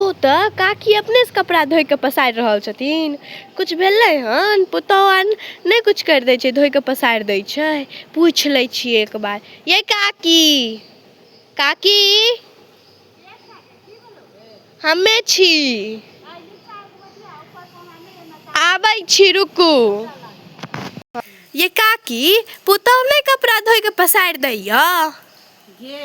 ओ तऽ काकी अपने से कपड़ा धोइ कऽ पसारि रहल छथिन किछु भेलै हन पुतहु आर नहि किछु करि दै छै धोइ कऽ पसारि दै छै पूछि लै छियै एक बार यै काकी काकी हमे छी आबै छी रुकू ये काकी पुतहु नहि कपड़ा धोइ कऽ पसारि दैया गे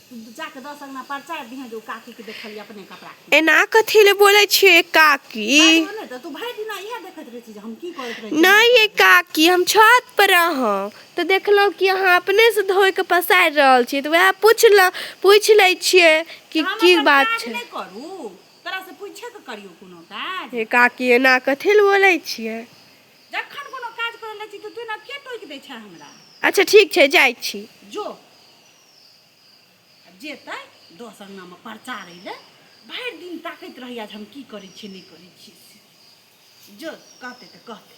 एना कथी ले बोले छिए काकी नहीं ये काकी हम छत पर रहूँ तो देखलो कि अहाँ अपने से धो के पसार रहल छी तो वह पूछ ल पूछ ले छिए कि की बात छे ये काकी एना कथी ले बोले छिए अच्छा ठीक छे जाई छी जो जेतै दस अङ्गनामे प्रचार अयलै भरि दिन ताकैत रहैया जे हम की करै छियै नहि करै छियै से जो कहतै तऽ कहतै